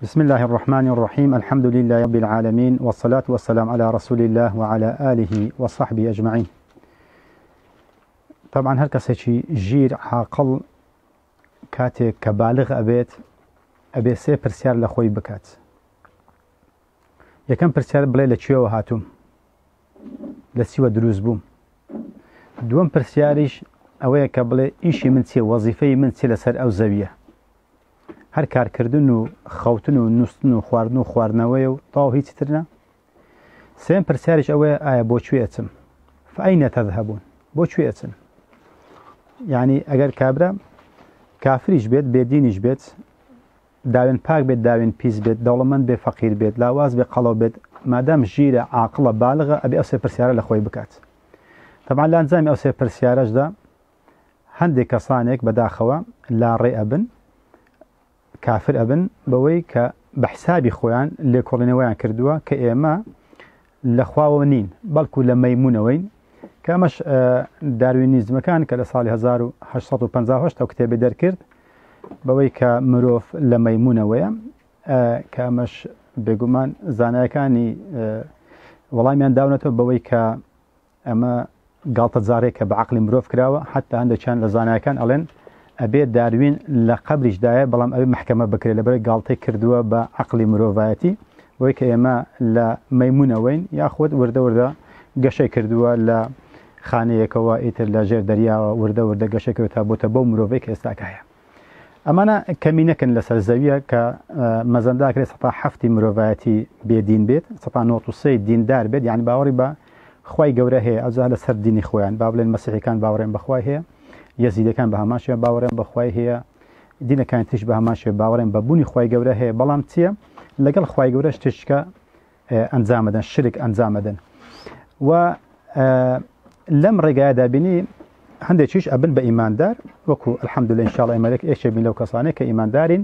بسم اللە الرحمن الرحیم الحمد للە رب العالمین والصلاة والسلام علی رسول اللە وعلی آله وصحبه اجمعین طبعا هەر کەسێکی ژیر عاقڵ کاتێک کە بالغ ئەبێت ئەبێ سێ پرسیار لە خۆی بکات یەکەم پرسیار بڵێ لە کوێوە هاتووم لە سیوە دروست بووم دووەم پرسیاریش ئەوەیە کە بڵێ ئیشی من چێ وەزیفەی من چێ لەسەر ئەو زەویە هەر کار کردن و خەوتن و نووستن و خواردن و خواردنەوەیە و تەواو هیچی تر نا؟ سێم پرسیاریش ئەوەیە ئایا بۆ کوێ ئەچم؟ فەئەینە تەذهبون؟ بۆ کوێ ئەچن؟ یعنی ئەگەر کابرا کافریش بێت بێدینیش بێت داوێن پاک بێت داوێن پیس بێت دەوڵەمەند بێ فەقیر بێت لاواز بێ قەڵەو بێت مادام ژیرە عاقڵە بالغە ئەبێ ئەو سێ پرسیارە لە خۆی بکات طبعا لە ئەنجامی ئەو سێ پرسیارەشدا هەندێک کەسانێک بەداخەوە لاڕێ ئەبن کافر ئەبن بەوەی کە بە حسابی خۆیان لێکۆڵینەوەیان کردووە کە ئێمە لە خواوە نین بەڵکو لە مەمونونەوەین کە ئەمەش داروینیزمەکان کە لە ساڵی 1950 ئەو کتێبی دەرکرد بەوەی کە مرۆڤ لە مەمونونەوەیە کە ئەمەش بێگومان زانایەکانی وەڵامیان داونەتەوە بەوەی کە ئەمە گاڵتەجاڕیەکە بە عەقڵی مرۆڤ کراوە حەتا هەندێکیان لە زانایەکان ئەڵێن ئەبێ داروین لە قەبریش دایە بەڵام ئەبێ مەحکەمە بکرێ لەبەرەی گاڵتەی کردووە بە عەقڵی مرۆڤایەتی بۆی کە ئێمە لە مەیمونەوەین یاخود وردە وردە گەشەی کردووە لە خانەیەکەوە ئیتر لە ژێر دەریاوە وردە وردە گەشەکەوە تا بۆتە بەو مرۆڤەی کە ئێستاکایە. ئەمانە کەمینەکن لەسەر زەویە کە مەزەنداکرێ سەتا هەفتی مرۆڤایەتی بێدین بێت سەتا نۆسی دیندار بێت یان باوەڕی بە خی گەورە هەیە ئەوجا لەسەر دینی خۆیان با بڵێن مەسیحەکان باوەڕێن بەخوای هەیە یەزیدەکان بە هەماشە باوەڕێن بەخوای هەیە دینەکان تیش بە هەماشێ باوەڕێن بە بوونی خی گەورە هەیە بەڵام چییە لەگەڵ خی گەورە شتێکە ئەنجامەدەن شرک ئەنجامەدەن و لەم ڕێگایە دابینی هەندێکیش ئەبن بە ئیماندار وەکو الحمد لله انشاء الله ئەمەێک ئێشێک بین لەو کەسانێک کە ئیماندارین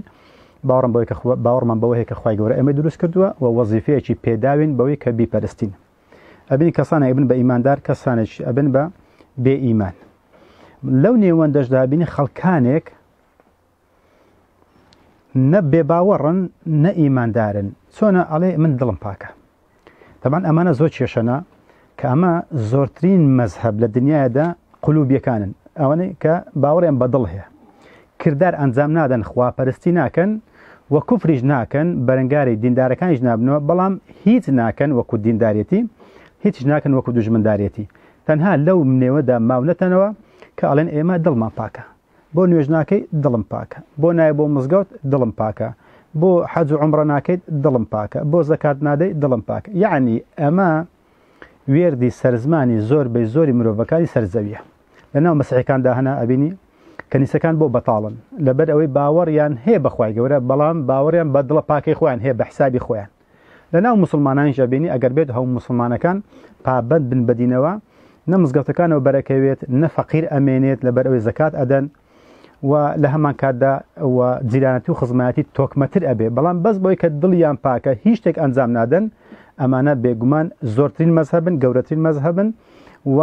باوەڕم بەوەی کە باوەڕمان بەوەی کە خخوای گەورە ئەمە دروست کردووە و وەزیفەیەکی پێداوین بەوەی کە بیپەرستین ئەبین کەسانە ئەبن بە ئیماندار کەسانێک ئەبن بە بێ ئیمان لەو نێوەندەشدابینی خەڵکانێک نە بێباوەڕن نە ئیماندارن چۆنە ئەڵێ من دڵم پاکە دەبان ئەمانە زۆر کێشەنا کە ئەمە زۆرترین مەزهب لە دنیادا قلوبیەکانن ئەوەنەی کە باوەڕێن بە دڵ هەیە کردار ئەنجام نادەن خواپەرستی ناکەن و کوفریش ناکەن بەرەنگاری دیندارەکانیش نابنەوە بەڵام هیچ ناکەن وەکو دیندارەتی هیچ ناکەن وەکو دژمندارەتی تەنها لەو منێوەدا ماونەتەنەوە کە ئەڵێن ئێمە دڵمان پاکە بۆ نوێژ ناکەی دڵم پاکە بۆ نایە بۆ مزگەوت دڵم پاکە بۆ حەج و عمرە ناکەیت دڵم پاکە بۆ زەکات نادەی دڵم پاکە یعنی ئەمە وێردی سەرزمانی زۆر بەی زۆری مرۆڤەکانی سەرزەویە لەناو مەسیحەکاندا هەنا ئەبینی کەنیسەکان بۆ بەتاڵن لەبەر ئەوەی باوەڕیان هەیە بەخوای گەورە بەڵام باوەڕیان بە دڵە پاکەی خۆیان هەیە بە حسابی خۆیان لە ناو موسڵمانانیشدا بینی ئەگەر بێت هەموو موسڵمانەکان پابەند بن بەدینەوە نە مزگەوتەکانەوە بەرەکەوێت نە فەقیر ئەمێنێت لەبەر ئەوەی زەکات ئەدەن و لە هەمان کاتدا و جیرانەتی و خزمایەتی تۆکمەتر ئەبێ بەڵام بەس بۆی کە دڵیان پاکە هیچ شتێک ئەنجام نادەن ئەمانە بێگومان زۆرترین مەذهبن گەورەترین مەذهبن و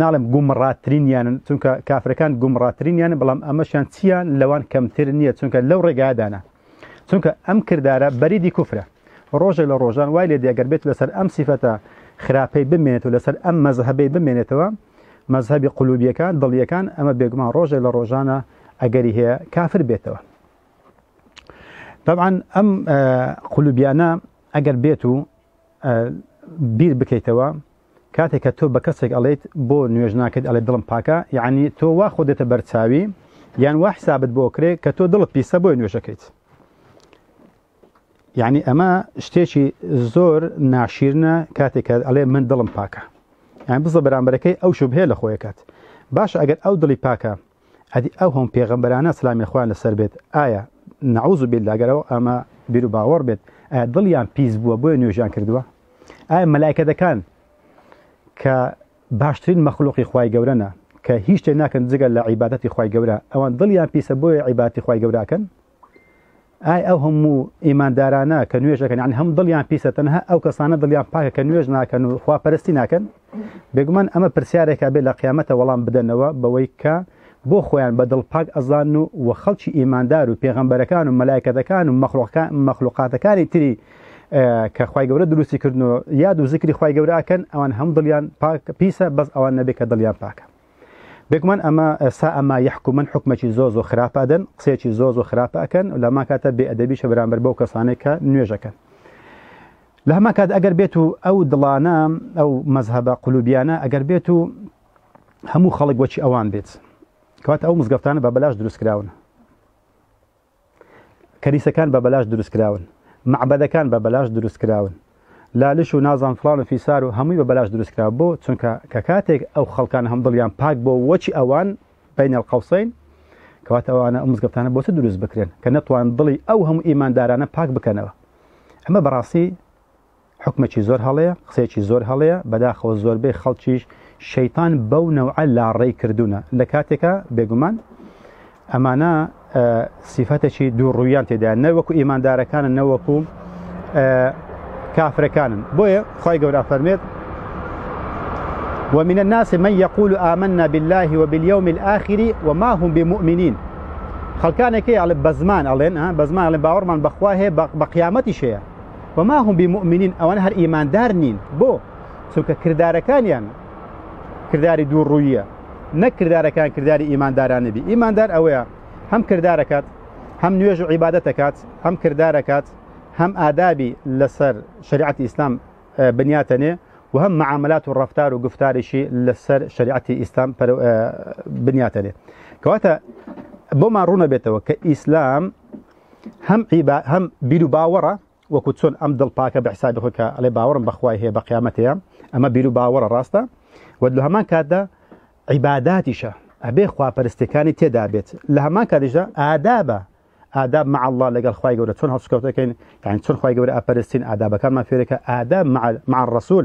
ناڵم گومڕاترین یانن چونکە کافرەکان گومڕاترین یانە بەڵام ئەمەشیان چیان لەوان کەمتر نییە چونکە لەو ڕێگادانە چونکە ئەم کردارە بەریدی کوفرە ڕۆژێک لە ڕۆژان وای لێ دێگەر بێت لەسەر ئەم سیفەتە خراپەی بمێنێت و لەسەر ئەم مەزهبەی بمێنێتەوە مەزهبی قلوبیەکان دڵیەکان ئەمە بێگومان ڕۆژێک لە ڕۆژانە ئەگەری هەیە کافر بێتەوە طبعا ئەم قلوبیانە ئەگەر بێت و بیر بکەیتەوە کاتێک کە تۆ بە کەسێک ئەڵێیت بۆ نوێژ ناکەیت ئەڵێ دڵم پاکە یعنی تۆ وا خۆ دێتە بەرچاوی یان وا حسابت بۆ کرێ کە تۆ دڵت پیسە بۆی نوێژەکەیت یعنی ئەمە شتێکی زۆر ناشیرنە کاتێک کە ئەڵێ من دڵم پاکە یان بزە بەرامبەرەکەی ئەو شوبهەیە لە خۆیەکات باش ئەگەر ئەو دڵی پاکە ئەدی ئەو هەم پێغەمبەرانە سلامی خوان لەسەر بێت ئایا نعوذ بالله گەرەوە ئەمە بیرو باوەڕ بێت ئایا دڵیان پیس بووە بۆیە نوێژیان کردووە ئایا مەلایکەتەکان کە باشترین مەخلوقی خوای گەورەە کە هیچ شتێ ناکەن جگە لە عیباەتی خی گەورە ئەوان دڵیان پیسە بۆیە عیباتی خی گەوراکەن ئای ئەو هەموو ئیماندارانە کە نوێژ دەکەن یعنی هەم دڵیان پیسە تەنها ئەو کەسانە دڵیان پاکە کە نوێژ ناکەن و خواپەرستی ناکەن بێگومان ئەمە پرسیارێکا بێ لە قیامەتە وەڵام بدەنەوە بەوەی کە بۆ خۆیان بە دڵ پاک ئەزان و و خەڵکی ئیماندار و پێغەمبەرەکان و مەلایکەتەکان و مەخلوقاتەکانی تری کە خی گەورە دروستی کردن و یاد و زیکری خی گەوراکەن ئەوان هەم دڵیان پاک پیسە بەس ئەوان نەبێت کە دڵیان پاکە بێگومان ئەمە سا ئەما یحکومن حکومەکی زۆ زۆ خراپە ئەدەن قسەیەکی زۆ زۆ خراپە ئەکەن و لەما کاتە بێ ئەدەبیشە بەرامبەر بەو کەسانێک کە نوێژەکەن لە هەما کات ئەگەر بێت و ئەو دڵانە ئەو مەذهبە قلوبیانە ئەگەر بێت و هەموو خەڵک وەچی ئەوان بێت کەواتە ئەو مزگەفتانە بە بەلاش دروستکراون کەنیسەکان بە بەلاش دروست کراون مەعبەدەکان بە بەلاش دروست کراون لالش و نازان فلان و فیسار و هەمووی بە بەلاش دروست کرا بۆ چونکە کە کاتێک ئەو خەڵکان هەم دڵیان پاک بۆ وەچی ئەوان بین القوسین کەواتە ئەوانە ئەو مزگەفتانە بۆچە دروست بکرێن کە نەتوان دڵی ئەو هەموو ئیماندارانە پاک بکەنەوە ئەمە بەڕاستی حوکمەکی زۆر هەڵەیە قسەیەکی زۆر هەڵەیە بەداخەوە زۆربەی خەڵکیش شەیتان بەو نەوعە لاڕێی کردوونە لە کاتێکە بێگومان ئەمانە سیفەتێکی دوو ڕوویان تێدا نەوەکو ئیماندارەکانە نەوەکو کافرەکانن بۆیە خی گەورە فەرمێت ومن الناس من يقول آمنا بالله وباليوم الآخر وما هم بمؤمنين خەڵکانێکی ئەڵێ بەزمان ئەڵێن بەزمان ئەڵێن باوەڕمان بەخوا هەیە بە قیامەتی شەیە وما هم بمؤمنین ئەوانە هەر ئیماندار نین بۆ چونکە کردارەکانیان کرداری دوو ڕوویە نەک کردارەکان کرداری ئیماندارانە بی ئیماندار ئەوەیە هەم کردارەکات هەم نوێژ و عیبادە دەکات هەم کردارەکات هەم ئادابی لەسەر شریعەتی ئیسلام بنیاتەنێ و هەم معاملات و ڕفتار و گفتاریشی لەسەر شریعەتی ئیسلام بنیاتەنێ کەواتە بۆمان ڕوونە بێتەوە کە ئیسلام هەم عیبا هەم بیرو باوەڕە وەکو چۆن ئەم دڵ پاکە بە حسابی خۆی کە ئەڵێ باوەڕم بەخوای هەیە بە قیامەت هەیە ئەمە بیرو باوەڕە ڕاستە و لە هەمان کاتدا عیباداتیشە ئەبێ خواپەرستەکانی تێدا بێت لە هەمان کاتیشدا ئادابە ئاداب مع الله لەگەڵ خی گەورە چۆن هەڵسکەوتەکەین یان چۆن خی گەورە ئەپەرستین ئادابەکانمان فێرەکە ئاداب مع الرسول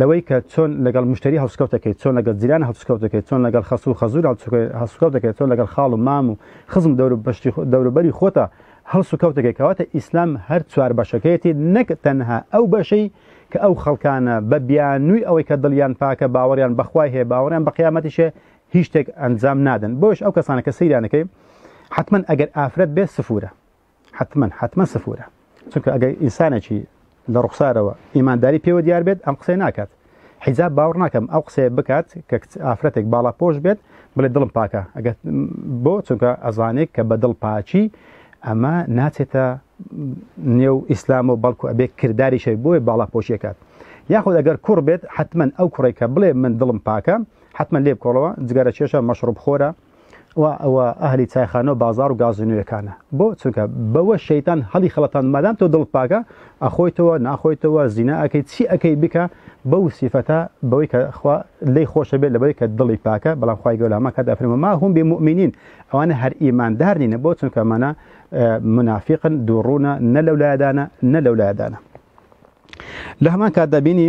لەوەی کە چۆن لەگەڵ مشتەری هەڵسوکەوت دەکەیت، چۆن لەگەڵ جیران هەڵسوکەوت دەکەیت، چۆن لەگەڵ خەسوو و خەزوور هەڵسوکەوت دەکەیت، چۆن لەگەڵ خاڵ و مام و خزم و دەوروبەری خۆتا هەڵسوکەوت دەکەیت، کەواتە ئیسلام هەر چوار بەشەکەیەتی نەک تەنها ئەو بەشەی کە ئەو خەڵکانە بە بیانووی ئەوەی کە دڵیان پاکە باوەڕیان بە خوای هەیە باوەڕیان بە قیامەتیش هەیە هیچ شتێک ئەنجام نادەن بۆیەش ئەو کەسانە کە سەیریان دەکەی حەتمەن ئەگەر ئافرەت بێت سفوورە حتمما حتمما سفورە چونکە ئەگەر ئینسانێکی لە ڕوخسارەوە ئیمانداری پێوە دیار بێت ئەم قسەی ناکات حیجاب باوەڕ ناکەم ئەو قسەیە بکات کە ئافرەتێک باڵا پۆش بێت بڵێ دڵم پاکە ئەگەر بۆ چونکە ئەزانێک کە بە دڵ پاچی ئەمە ناچێتە نێو ئیسلام و بەڵکو ئەبێ کردداری شەی بۆی باڵا پۆشیەکات یاخود ئەگەر کوڕ بێت حتمما ئەو کوڕێکە بڵێ من دڵم پاکە حتمما لێ بکۆڵەوە جگەرە چێشە مەشڕب خۆرە ئەهلی چایخانە و بازار و گازینویەکانە بۆ چونکە بەوە شەیتان هەڵی خڵەتان مادام تۆ دڵت پاکە ئەخۆیتەوە ناخۆیتەوە زینا ئەەکەی چی ئەەکەی بکە بەو سیفەتە بەوەی کە خوا لی خۆشە بێت لەبەوەی کە دڵی پاکە بەڵام خخوای گەلاما کە دەفرمە ما هەم بێ مؤمنین ئەوانە هەر ئیماندار نینە بۆ چونکە مانە منافقن دووڕوونە نە لەو لایدانە نە لەو لایدانە لە هەمان کات دەبینی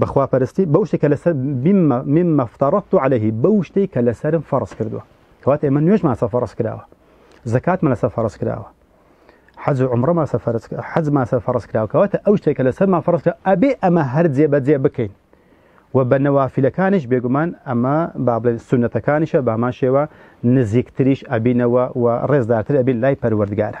بە خوا پەرستی بەو شتێکە لەسەر مما افترضت عليه بەو شتێک کە لەسەرم فەرز کردووە کەواتە ئێمە نوێژمان سە فەرز کراوە زکاتمان لەسەر فەرز کراوە حەز و عمرە ماسە فەرز حەز ماسە فەرز کراوە کەواتە ئەو شتێکە لەسەرمان فەرز کرا ئەبێ ئەمە هەر جێبەجێ بکەین و بە نەوافیلەکانیش بێگومان ئەمە با بڵێن سونەتەکانیشە بامان شێوە نزیکتریش ئەبینەوە و ڕێزدارتر ئەبین لای پەروەردگارە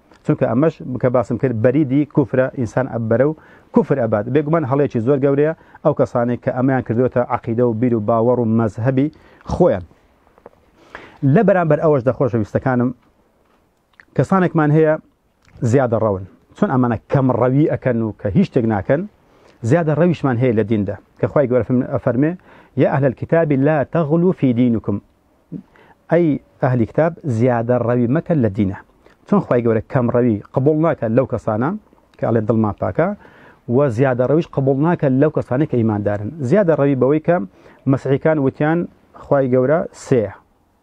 چونکە ئەمەش بکە باسم کرد بەریدی کوفرە ئینسان ئەبەرە و کوفر ئەبات بێگومان هەڵێکی زۆر گەورەیە ئەو کەسانێک کە ئەمیان کردوێتە عقیدە و بیر و باوەڕ و مەزهبی خۆیان لە بەرامبەر ئەوەش دەخۆشە ویستەکانم کەسانێکمان هەیە زیادە ڕەون چۆن ئەمانە کەم ڕەوی ئەەکەن و کە هیچ شتێک ناکەن زیادە ڕەویشمان هەیە لە دیندا کە خخوای گەورفم ئەفەرمێ یا ئەهل الكتاب لا تغلو في دينكم ئەی ئەهلی کتاب زیادە ڕەوی مەکە لە دینە چۆن خی گەورە کەم ڕەوی قبول ناکە لەو کەسانە کە ئەڵێن دڵمان پاکە و زیادە ڕەویش قبول ناکە لەو کەسانی کە ئیماندارن زیادە ڕەوی بەوەی کە مەسیحەکان وتیان خی گەورە سێ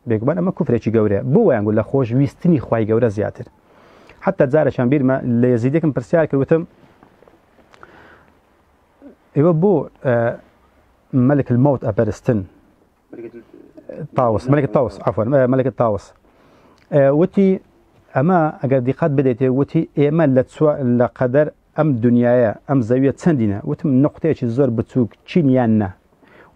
بێگومان ئەمە کوفرێکی گەورەیە بۆ وایانگو لە خۆش ویستنی خی گەورە زیاتر حتا جارەشان بیرمە لە یزیدێکم پرسیار کردوتم ئێوە بۆ مەلک الموت ئەپەرستن تاوس مەلکە تاوس عفوا مەلکە تاوس وتی ئەمە ئەگەر دیقات بدەێتێ وتی ئێمە لە لە قەدەر ئەم دنیاە ئەم زەویە چەندینە وتم نقطەیەکی زۆر بچووک چینیان نە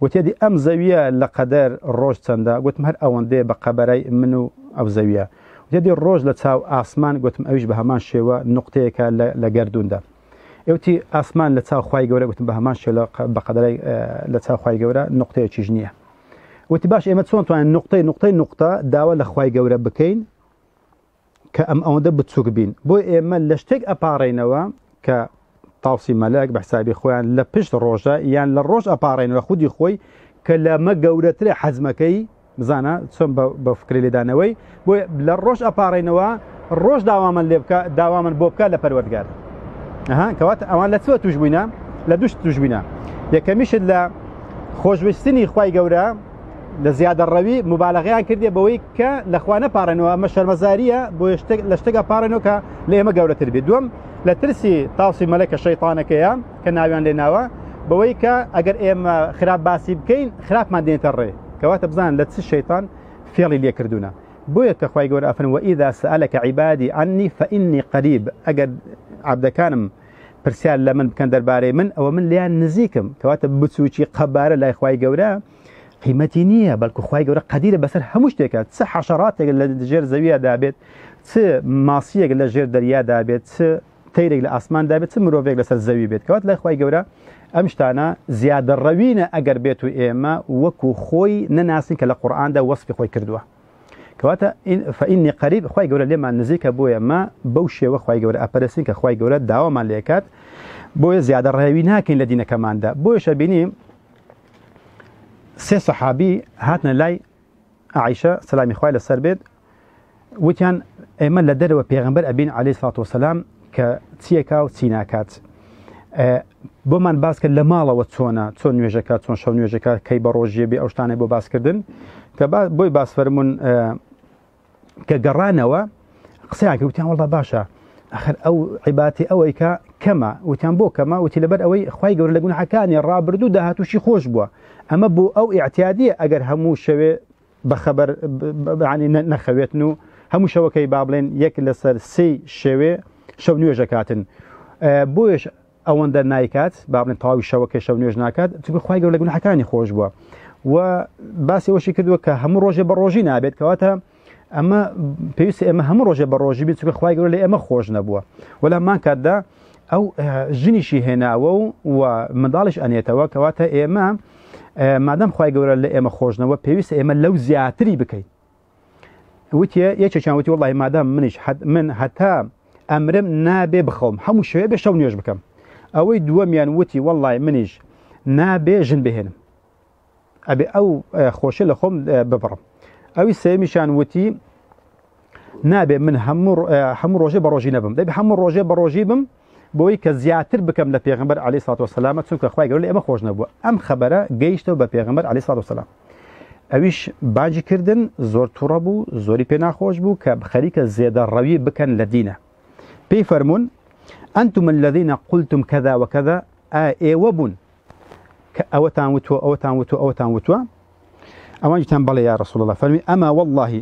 وتێدی ئەم زەویە لە قەدەر ڕۆژ چەندە گوتم هەر ئەوەندێ بە قەبەرای من و ئەو زەویە وتێدی ڕۆژ لە چاو ئاسمان گوتم ئەویش بە هەمان شێوە نقطەیەەکە لە گردوندا ئێوتی ئاسمان لە چاو خی گەورە گوتم بە هەمان شێ لە بەقەدەی لە چاو خی گەورە نقطەیەکیش نییە وتی باش ئێمە چۆن توانین نقطەی نقطەی نقطە داوا لە خی گەورە بکەین کە ئەم ئەوەندە بچووک بین بۆ ئێمە لە شتێک ئەپارڕینەوە کە تاوسی مەلەک بە حسابی خۆیان لە پشت ڕۆژە یان لە ڕۆژ ئەپارڕێنەوە خودی خۆی کە لەمە گەورەترە حەزمەکەی بزانە چۆن بە فکری لێدانەوەی بۆ لە ڕۆژ ئەپارڕینەوە ڕۆژ داوامن لێ بکە داوامن بۆ بکە لە پەروەردگار ئەها کەواتە ئەوان لە چوە توش بووینە لە دوشت توش بووینە یەکەمیشت لە خۆشویستنی خی گەورە لە زیادە ڕەوی مبالغیان کردێ بەوەی کە لەخوا نەپارێنەوە ئەمە شەرمەزاریە بۆ لە شتێکە پارێنەوە کە لە ئێمە گەورەتر بێ دوم لە ترسی تاوسی مەلەکە شەیتانەکەیە کە ناویان لێ ناوە بەوەی کە ئەگەر ئێمە خراپ باسی بکەین خراپمان دێنێتە ڕێ کەواتە بزان لە چ شەیتان فێڵی لێکردوونە بۆیە کە خی گەور ئەفن و ئیدا سەلەکە عیبادی ئەنی فەئینی قەریب ئەگەر عبدەکانم پرسیار لە من بکەن دەربارەی من ئەوە من لیان نزیکم کەواتە بچووکی قەبارە لای خی گەورە قیمەتی نییە بەڵکو خی گەورە قەدیرە بەسەر هەموو شتێکە چ حەشەڕاتێک لە دژێر زەویە دابێت چ ماسیەک لە ژێر دەریادا بێت چ تەیرێک لە ئاسمان دابێت چ مرۆڤێک لەسەر زەوی بێت کەوات لای خی گەورە ئەم شتانە زیادە ڕەوینە ئەگەر بێت و ئێمە وەکو خۆی نەناسین کە لە قورآاندا وەسفی خۆی کردووە کەواتە فەینی قەریب خی گەورە لێمان نزیکە بۆیە ما بەو شێوە خی گەورە ئەپەرسین کە خی گەورە داوامان لێکات بۆیە زیادە ڕێوی ناکەین لە دینەکەماندا بۆیشە بینی سێ سەحابی هاتنە لای عائشە سەلامی خوای لەسەر بێت وتیان ئێمە لە دەرەوە پێغمبەر ئەبین علی سات وسلام کە چیەکە و چی ناکات بۆمان باسکە لە ماڵەوە چۆنە چۆن نوێژەکە چۆن شەو نوێژەکە کەی بە ڕۆژیە بێ ئەوشتانە بۆ باسکردن کە بۆی باسفەرمونون کە گەڕانەوە قسەیان کرد وتیان وڵا باشە ئەخر ئەو عیباتی ئەوەی کە کەمە وتیان بۆ کەمە وتی لەبەر ئەوەی خی گەور لە گوناحەکانی ڕابردوو داهاتوشی خۆش بووە ئەمە بۆ ئەو ئاعتیادیە ئەگەر هەموو شەوێ بەخەبەر نەخەوێتن و هەموو شەوەکەی با بڵێن یەک لەسەر سی شێوێ شەو نوێژەکاتن بۆیش ئەوەندە نایکات با بڵێن تەواوی شەوەکەی شەو نوێژ ناکات چونکە خوای گەورە لە گوناحەکانی خۆش بووە و باسی ئەوەشی کردووە کە هەموو ڕۆژێ بە ڕۆژی نابێت کەواتە ئەمە پێویست ئێمە هەموو ڕۆژێ بە ڕۆژی بێت چونکە خوای گەورە لە ئێمە خۆش نەبووە وەلا مان کاتدا ئەو ژنیشی هێناوە و و منداڵش ئەنێتەوە کەواتە ئێمە مادەم خی گەورە لە ئێمە خۆشنەوە پێویست ئێمە لەو زیاتری بکەین وتە یەکێکیان وتی وڵی مادام منیش من هەتا ئەمرم نابێ بخەوم هەموو شوێ بێ شەو نوێش بکەم ئەوەی دووەمیان وتی وەڵی منیش نابێ ژن بهێنم ئەبێ ئەو خۆشە لە خۆم ببڕم ئەوی سێمیشان وتی نابێ من هەموو ڕۆژێ بە ڕۆژی نەبم دەبێ هەموو ڕۆژێ بە ڕۆژی بم بۆی کە زیاتر بکەم لە پێغمبەر علی سات وسلامە چونکە خخوای گەۆ لە ئەمە خۆش نەبووە ئەم خەبەرە گەیشتەوە بە پێغمبەر علی سات وسلام ئەویش باجی کردن زۆر توڕە بوو زۆری پێ ناخۆش بوو کە خەریکە زێدە ڕەوی بکەن لە دینە پێی فەرمونون ئەنتم الذيە قلتم کەدا وەکەدا ئێوە بوون کە ئەوەتان وتوە ئەوەتان وتو ئەوەتان وتووە ئەوانجیتان بەڵێ یا ڕسول الله فەرمی ئەما واللهی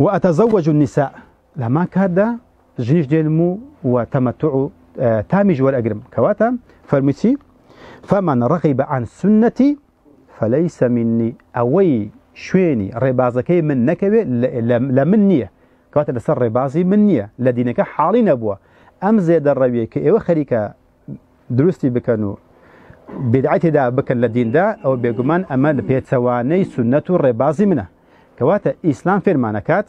و ئەتەزەوەج النساء لە هەمان کاتدا ژنیش دێنم و و تەمەتع و تامیش وەرئەگرم کەواتە فەرمی چی فمن رغب عن سنتي فليس مني ئەوەی شوێنی ڕێبازەکەی من نەکەوێ لە من نییە کەواتە لەسەر ڕێبازی من نییە لە دینەکە حاڵی نەبووە ئەم زێدە ڕەویە کە ئێوە خەریکە دروستی بکەن و بدعی تێدا بکەن لە دیندا ئەو بێگومان ئەمە لە پێچەوانەی سنەت و ڕێبازی منە کەواتە ئیسلام فێرمانەکات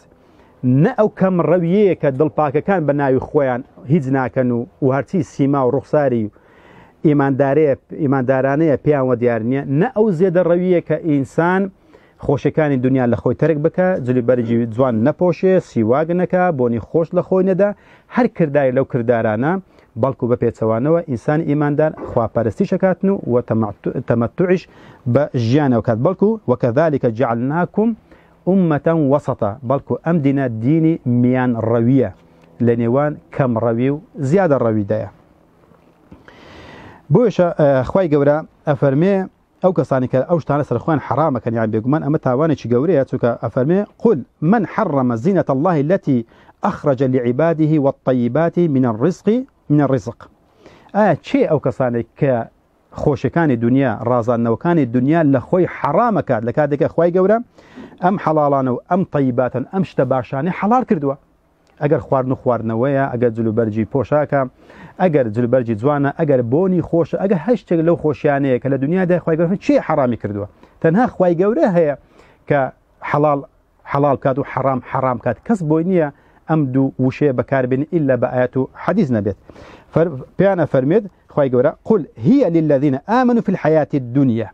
نە ئەو کەم ڕەویەیە کە دڵپاکەکان بە ناوی خۆیان هیچ ناکەن و و هەرچی سیما و ڕوخساری و ئیماندارەیە ئیماندارانەیە پێیان وە دیار نییە نە ئەو زێدە ڕەویە کە ئینسان خۆشیەکانی دونیا لە خۆی تەرک بکە، جلی بەرگی جوان نەپۆشێ، سیواک نەکا، بۆنی خۆش لە خۆی نەدە، هەر کردارێک لەو کردارانە، بەڵکو بە پێچەوانەوە ئینسانی ئیماندار خوا پەرستیش ئەکاتن و و تەمەتوعیش بە ژیانەوە کات بەڵکو وکذلک جعلناکم امە وسطا بەڵکو ئەم دینە دینی میان ڕەویە لە نێوان کەم ڕەوی و زیادە ڕەویدایە بۆیشە خوای گەورە ئەفەرمێ ئەو کەسانەی کە ئەو شتانە سەر خۆیان حەڕام ئەکەن یان بێگومان ئەمە تاوانێکی گەورەیە چونکە ئەفەرمێ قل من حرم زینەت اللە التی اخرج لعباده والطیبات من الرزق من الرزق ئایا چێ ئەو کەسانێک کە خۆشەکانی دنیا ڕازاندنەوەکانی دنیا لە خۆی حەڕامەکات لە کاتێکە خی گەورە ئەم حەڵاڵانە و ئەم طیباتن ئەم شتە باشانی حەڵار کردووە ئەگەر خواردن و خواردنەوەیە ئەگەر جلوبەرجی پۆشاکە ئەگەر جلوبەرجی جوانە ئەگەر بۆنی خۆشە ئەگە هەر شتێک لەو خۆشیانەیە کە لە دنیا داخوای گەورە چی حرامی کردووە تەنها خوای گەورە هەیە کە حەڵال حەڵال کات و حەرام حەرام کات کەس بۆی نییە ئەم دوو وشەیە بەکاربێن ئللا بە ئاەت و حەدیز نەبێت پێیانە فەرمێت خی گەورە قل هیە للذینە ئامن و فی الحیاتی دنیا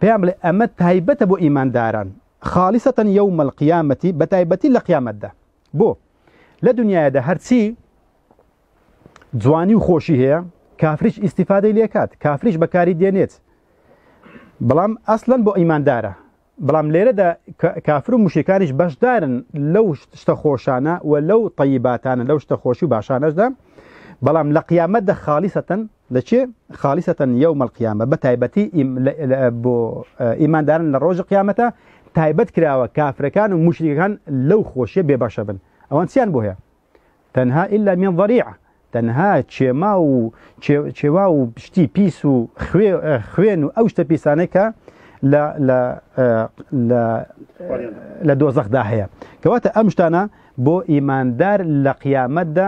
پێیان بڵێ ئەمە تایبەتە بۆ ئیمانداران خالیسە یەوم القیامەتی بە تایبەتی لە قیامەتدا بۆ لە دنیادا هەرچی جوانی و خۆشی هەیە کافریش ئیسیفادەی لێکات کافریش بەکاری دێنێت بەڵام ئەسلەن بۆ ئیماندارە بەڵام لێرەدا کافر و مشکانیش بەشدارن لەو شتە خۆشانە و لەو طیباتانە لەو شتە خۆشی و باشانەشدا بەڵام لە قیامەتدا خالیسەتەن دەچێ خالیسەتەن یەوم القیامە بە تایبەتی بۆ ئیماندارن لە ڕۆژی قیامەتە تایبەت کراوە کافرەکان و مشریەکان لەو خۆشیە بێبەشە بن ئەوان چیان بۆ هەیە تەنها ئللا من ضریع تەنها چێما و چێوا و شتی پیس و خوێن و ئەو شتە پیسانەی کە لە دۆزەخدا هەیە کەواتە ئەم شتانە بۆ ئیماندار لە قیامەتدا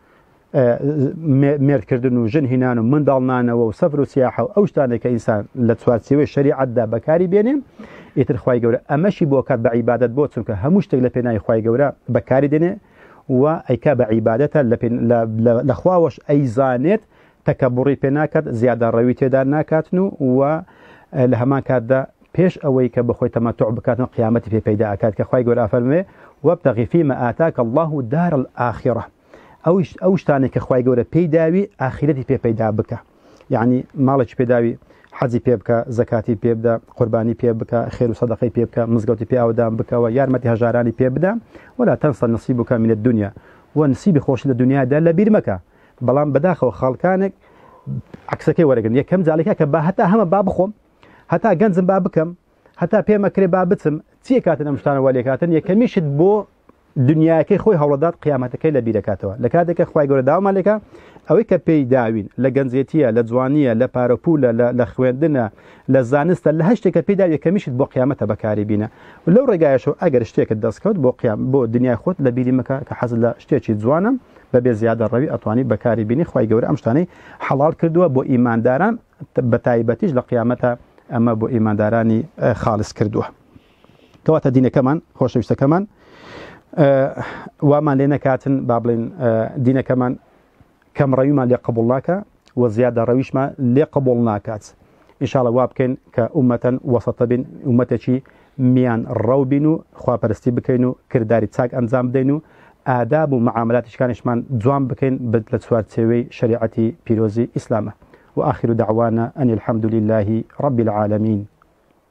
مێردکردن و ژن هینان و منداڵنانەوە و سەفر و سیاحە و ئەو شتانێک کە ئینسان لە چوارچێوەی شریعەتدا بەکاری بێنێ ئیتر خی گەورە ئەمەشی بۆ کات بە عیبادت بۆ چونکە هەموو شتێک لە پێناوی خی گەورە بەکاری دێنێ و ئەیکا بە عیباەتە لە خواوەش ئەیزانێت تەکەبوڕی پێ ناکات، زیادەڕەوی تێدا ناکاتن و وە لە هەمان کاتدا پێش ئەوەی کە بخۆی تەمەتوع بکاتن قیامەتی پێ پەیدا ئەکات کە خوای گەورە ئەفەرموێ، وابتغ فیما آتاک اللە الدار الآخرە، ئەوش ئەو شتانەی کە خوای گەورە پێی داوی ئاخیرەتی پێ پەیدا بکە، یەعنی ماڵێکی پێ داوی حەجی پێ بکە، زەکاتی پێ بدە، قوربانی پێ بکە، خێر و سەدەقەی پێ بکە، مزگەوتی پێ ئاودان بکەوە، یارمەتی هەژارانی پێ بدە، ولا تنسا نصیبک من الدنیا، وە نسیبی خۆشت لە دنیادا لەبیر مەکە. بەڵام بەداخەوە خاڵکانێک عکسەکەی وەرەگرن یەکەم جاالێکە کە با هەتا هەمە با بخۆم هەتا گەنجم با بکەم هەتا پێمە کرێ با بچم چیە کاتن ئەم شتانەوە لێکاتن یەکەمیشت بۆ دنیاکەی خۆی هەوڵدات قیامەتەکەی لە بیرەکاتەوە لە کاتێکە خخوای گەورە داوامالێکە ئەوەی کە پێی داوین لە گەنجێتیە لە جوانیە لە پارەپولە لە خوێندنە لە زانستە لە هەشتێکە پێدا یەکەمیشت بۆ قیامەتە بەکاری بینە لەو ڕێگایشەوە ئەگەر شتێکت دەستکەوت بۆ قیام بۆ دنیای خۆت لە بیری مەکە کە حەز لە شتێکی جوانم بەبێ زیادە ڕەوی ئەتوانی بەکاری بینی خی گەورە ئەم شتانەی حەڵال کردووە بۆ ئیمانداران بە تایبەتیش لە قیامەتە ئەمە بۆ ئیماندارانی خاڵس کردووە کەواتە دینەکەمان خۆشەویستەکەمان وامان لێ نەکاتن با بڵین دینەکەمان کەم ڕەویمان لێ قبول ناکە و زیادەڕەویشمان لێ قبوڵ ناکات ان شاء اللە وا بکەین کە ئومەتە وەسەتە بین ئومەتێکی میان ڕەو بین و خواپەرستی بکەین و کرداری چاک ئەنجام بدەین و ئاداب و معاملاتی شکانیشمان جوان بکەین بت لە چوارچێوەی شەریعەتی پیرۆزی ئیسلامە وآخر دعوانا أن الحمد لله رب العالمین